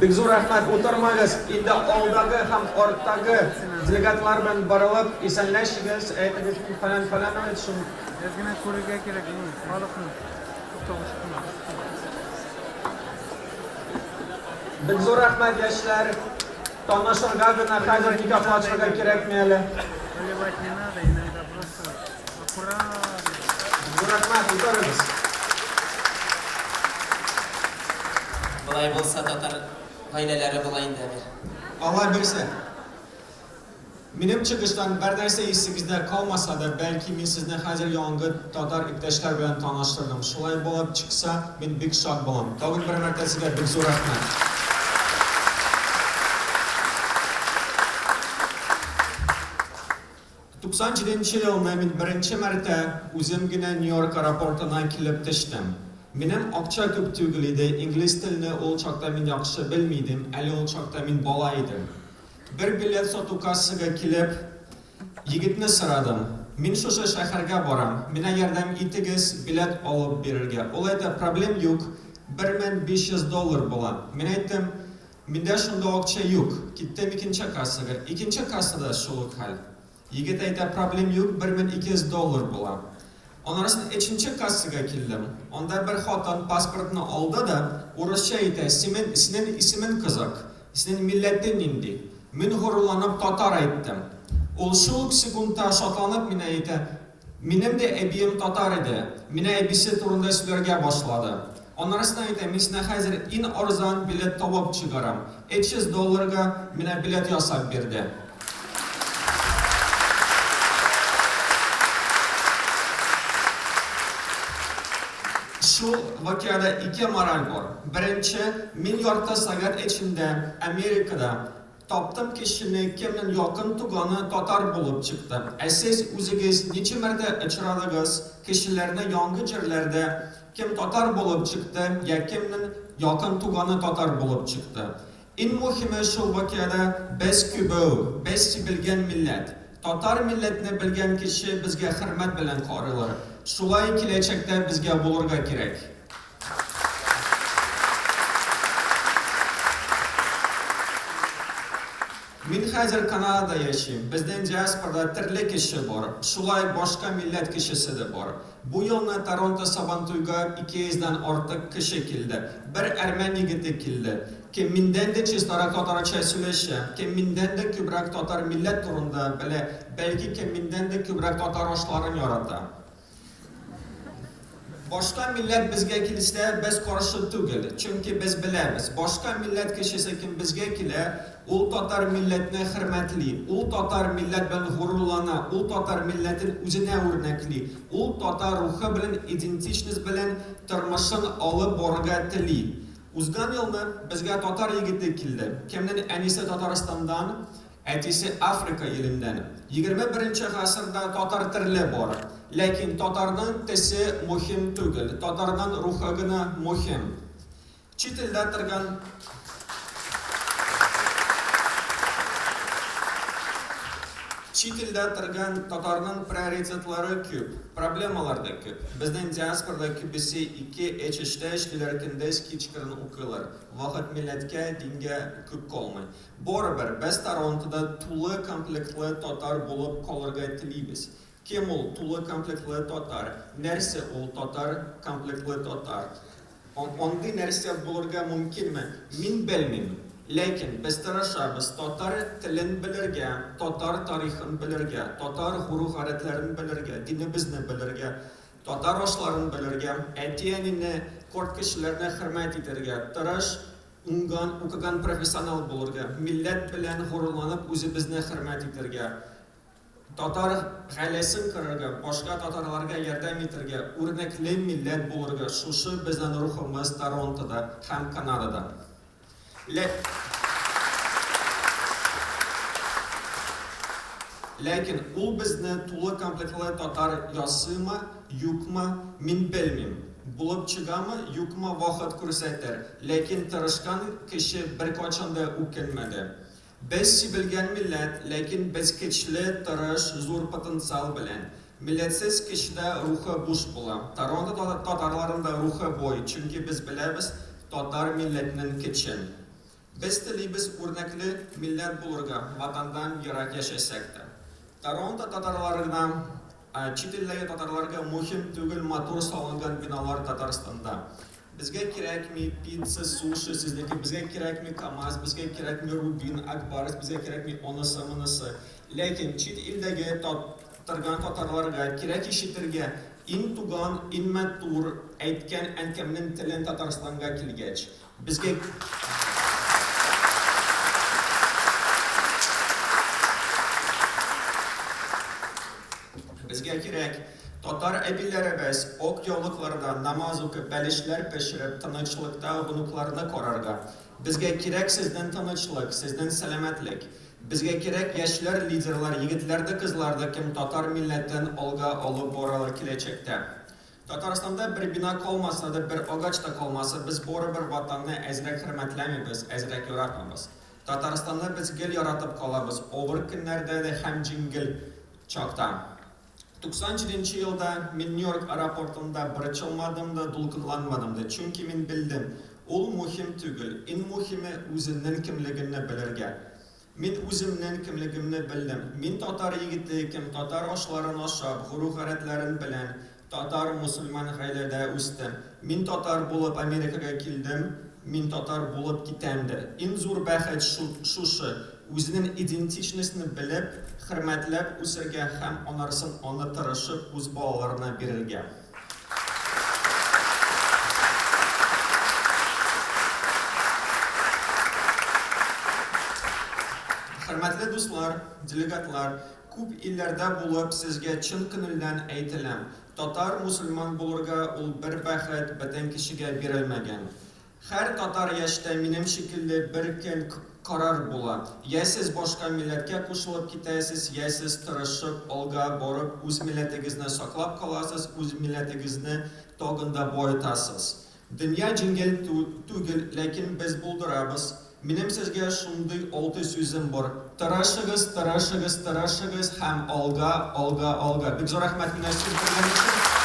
Бик зур рәхмәт, утырмагыз, инде алдагы һәм арттагы делегатлар белән барылып исәнләшегез, әйтегез, мин фәлән фәлән бит шул. Без генә күрергә кирәк, ну, халыкны. Бик зур рәхмәт, яшьләр. Танышырга гына хәзер никахлашырга кирәкми әле. Поливать не надо, иногда просто Болай булса татар гаиләләре була инде әле. Алла бирсә. Минем чыгыштан бер нәрсә исегездә калмаса да, бәлки мин сезне хәзер яңгы татар иптәшләр белән таныштырдым. Шулай булып чыкса, мин бик шат булам. Тагын бер мәртә сезгә бик зур рәхмәт. 97 елны мин беренче мәртә үзем генә Нью-Йорк аэропортына килеп төштем. Минем акча күп түгел иде, инглиз телне ул чакта мин яхшы белми идем, әле ул чакта мин бала идем. Бер билет сату кассага килеп, егетне сорадым, Мин шушы шәһәргә барам, менә ярдәм итегез, билет алып бирергә. Ул әйтә, Проблем юк, 1500 доллар була. Мин әйттем, Миндә шунда акча юк. Киттем икенче кассага. Икенче кассада шул ук хәл. Егет әйтә, проблем юк, бер мең ике йөз доллар була. Аннарысын өченче кассага килдем. Анда бер хатын паспортны алды да, урысча әйтә, симен, синен исемен кызак? Синен милләтен нинди? Мин горурланып татар әйттем. Ул шул ук секундта шатланып минә әйтә, Минем дә әбием татар иде. Менә әбисе турында сөйләргә башлады. Аннарысын әйтә, мин сина хәзер ин арзан билет табып чыгарам. Этч йөз долларга менә билет ясап бирде. Шул вакиада ике мораль бар. Беренче, мин ярты сагать эчендә Америкада Таптым кешене, кемнен якын туганы татар булып чыкты. Ә сез үзегез ничә мәртә очрадыгыз, кешеләрне яңгы җирләрдә кем татар булып чыкты я кемнен якын туганы татар булып чыкты. Ин мухиме шул вакиада без кюбеу, без сибелгән милләт. Татар милләтне белгән кеше безгә хөрмәт белән карыйлар. Шулай киләчәктә безгә булырга кирәк. Мин хәзер Канадада яшим. Безнең диаспорада төрле кеше бар. Шулай башка милләт кешесе дә бар. Бу елны Торонто Сабантуйга 200 дән артык кеше килде. Бер әрмән егете килде. Кем миндән дә чистарак татарча сөйләшә, кем миндән дә күбрәк татар милләт турында белә, бәлки кем миндән дә күбрәк татар ашларын ярата. Башка милләт безгә килсә, без каршы түгел, чөнки без беләбез, башка милләт кешесе кем безгә килә, ул татар милләтне хөрмәтли, ул татар милләт белән горурлана, ул татар милләтен үзенә үрнәкли, ул татар рухы белән, идентичность белән тормышын алып барырга тели. Узган елны безгә татар егете килде, кемнен әнисе Татарстандан, Әтисе Африка иленнән. Егерме беренче гасырда татар терле бар. Ләкин татарның тесе мухим түгел, татарның рухы гына мухим. Чит илдә торган Чит илдә торган татарның приоритетлары күп, проблемалар да күп. Безнең диаспорда күбесе ике эч эчтә эшлиләр, көндез кичкырын укыйлар. Вакыт милләткә, дингә күп калмый. Барыбер, без Торонтода тулы комплектлы татар булып калырга телибез. Кем ул тулы комплектлы татар? Нәрсә ул татар комплектлы татар? Андый нәрсә булырга мөмкинме? Мин белмим. Ләкин без тырышабыз татар телен белергә, татар тарихын белергә, татар гору-гадәтләрен белергә, динебезне белергә, татар ашларын белергә, әти-әнине, карт кешеләрне хөрмәт итәргә тырыш Уңган, укыган профессионал булырга, милләт белән горурланып үзебезне хөрмәт итәргә, татар гаиләсен корырга, башка татарларга ярдәм итәргә үрнәкле милләт булырга шушы безнен рухымыз Торонтода һәм Канадада. Ләкин ул безне тулы комплектлы татар ясыймы? Юкмы, мин белмим. Булып чыгамы, юкмы, вакыт күрсәтер, ләкин тырышкан кеше беркайчан да үкенмәде. Без сибелгән милләт, ләкин без көчле, тырыш, зур потенциал белән. Милләтсез кешедә рухы буш була. Торонто татарларында рухы буй, чөнки без беләбез татар милләтнен көчен. Без телибез үрнәкле милләт булырга, Ватандан ерак яшәсәк тә. Торонто татарларына, чит илдәге татарларга мухим түгел матур салынган биналар Татарстанда. Безгә кирәкми пицца, суши сезнеке, безгә кирәкми Камаз, безгә кирәкми Рубин, Акбарс, безгә кирәкми онысы, монысы. Ләкин чит илдәге тат торган татарларга кирәк ишетергә, ин туган, ин мәтур әйткән әнкәмнең телен Татарстанга килгәч. Безгә Безгә кирәк, татар әбиләребез ак яулыкларда намаз укып, бәлешләр пешереп, тынычлыкта онукларны карарга. Безгә кирәк сезнең тынычлык, сезнең сәламәтлек. Безгә кирәк яшьләр лидерлар, егетләр дә, кызлар да, кем татар милләтен алга алып баралар киләчәктә. Татарстанда бер бина калмаса да, бер агач та калмаса, без барыбер Ватанны әзрәк хөрмәтләмибез, әзрәк яратмабыз. Татарстанны без гел яратып калабыз, авыр көннәрдә дә һәм җиңел чакта. 97 нче елда мин Нью-Йорк аэропортында борчылмадым да, дулкынланмадым да, чөнки мин белдем, ул мөһим түгел, иң мөһиме, үзеңнең кемлегеңне белергә. Мин үземнен кемлегемне белдем. Мин татар егете икем, татар ашларын ашап, гору-гадәтләрен белән, татар, мусульман гаиләдә үстем. Мин татар булып Америкага килдем, мин татар булып китәм дә. Ин зур бәхет шут, шушы, үзенен идентичностьны белеп, хөрмәтләп үсергә һәм анарсын аны тырышып үз балаларына бирергә. Хөрмәтле дуслар, делегатлар, күп илләрдә булып, сезгә чын күнелдән әйтеләм, татар-мусульман булырга ул бер бәхет бөтен кешегә бирелмәгән. Хәр татар яшьтә минем шикелле бер көн карар була, йә сез башка милләткә кушылып китәсез, йә сез тырышып, алга барып, үз милләтегезне саклап каласыз, үз милләтегезне тагын да баетасыз. Дөнья җиңел түгел, ләкин без булдырабыз. Минем сезгә шундый алты сүзем бар, тырышыгыз, тырышыгыз, тырышыгыз һәм алга, алга, алга! Бик зур рәхмәт мине сөендергән өчен!